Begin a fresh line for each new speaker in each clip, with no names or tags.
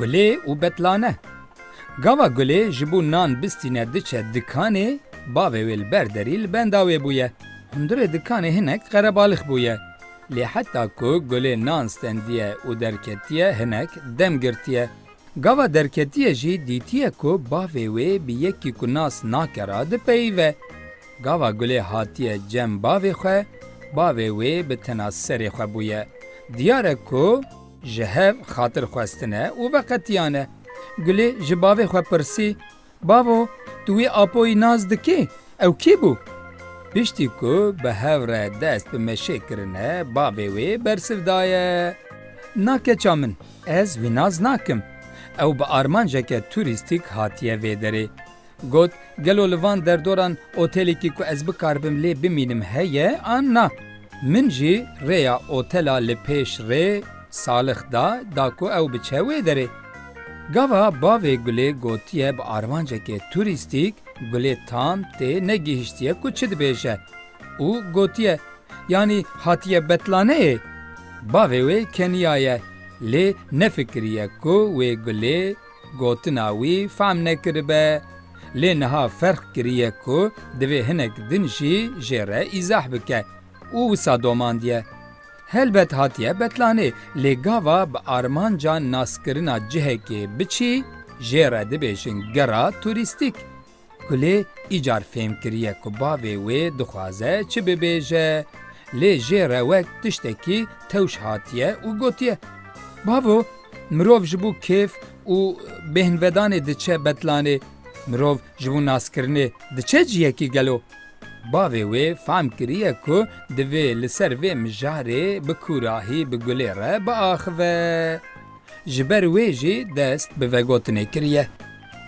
Gulê û betlane. Gava Gulê ji bo nan bistîne diçe dikanê, bavê wê li ber derî li benda wê bûye. Hundirê dikanê hinek qerebalix bûye. Lê heta ku Gulê nan stendiye û derketiye hinek dem girtiye. Gava derketiyê jî dîtiye ku bavê wê bi yekî ku nas nake re dipeyive. Gava gulê hatiye cem bavê xwe, bavê wê bi tena serê xwe bûye. Diyar e ku ji hev xatir xwestine û veqetiyane. Gulê ji bavê xwe pirsî, Bavo, tu wî Apoyî nas dikî? Ew kî bû? Piştî ku bi hev re dest bi meşê kirine bavê wê bersiv daye, Na keça min, ez wî nas nakim. Ew bi armanceke turîstîk hatiye vê derê. Got, Gelo li van derdoran otelekî ku ez bikaribim lê bimînim heye an na? Min jî rêya otela li pêş rê Salix da, da ku ew biçe wê derê. Gava bavê Gulê gotiye bi armancekê turîstîk Gulê tam tê negihiştiye ku çi dibêje û gotiye yanî hatiye betlaneyê. Bavê wê keniyaye lê nefikiriye ku wê Gulê gotina wî fehm nekiribe. Lê niha ferq kiriye ku divê hinek din jî jê re îzah bike û wisa domandiye. Helbet hatiye betlanê lê gava bi armanca naskirina cihekê biçî jê re dibêjin gera turîstîk. Kulê îcar fêm kiriye ku bavê wê dixwaze çi bibêje lê jê re wek tiştekî tewş hatiye û gotiye, Bavo, mirov ji bo kêf û bêhnvedanê diçe betlanê, mirov ji bo naskirinê diçe cihekî gelo? Bavê wê fehm kiriye ku divê li ser vê mijarê bi kûrahî bi gulê re biaxive. Ji ber wê jî dest bi vegotinê kiriye.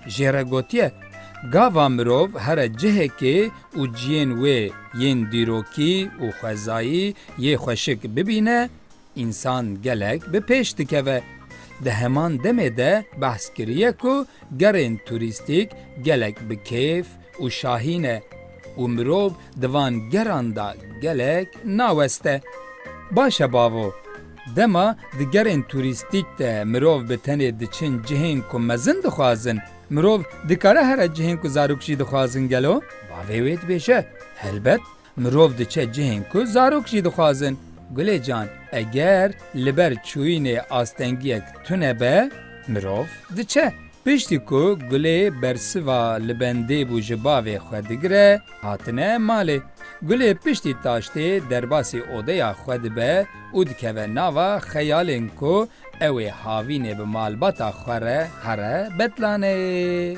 Jê re gotiye, Gava mirov here cihekê û ciyên wê yên dîrokî û xwezayî yê xweşik bibîne, Însan gelek bi pêş dikeve. Di heman demê de behs kiriye ku gerên turîstîk gelek bi kêf û şahî ne û mirov di van geran de gelek naweste. Baş e bavo, dema di gerên turîstîk de mirov bi tenê diçin cihên ku mezin dixwazin, mirov dikare here cihên ku zarok jî dixwazin gelo? Bavê wê dibêje, Helbet, Mirov diçe cihên ku zarok jî dixwazin. Gulê can, eger li ber çûyînê astengiyek tune be, mirov diçe. Piştî ku Gulê bersiva li bendê bû ji bavê xwe digire, hatine malê. Gulê piştî taştê derbasî odeya xwe dibe û dikeve nava xeyalên ku Ew ê havînê bi malbata xwe re here betlaneyê.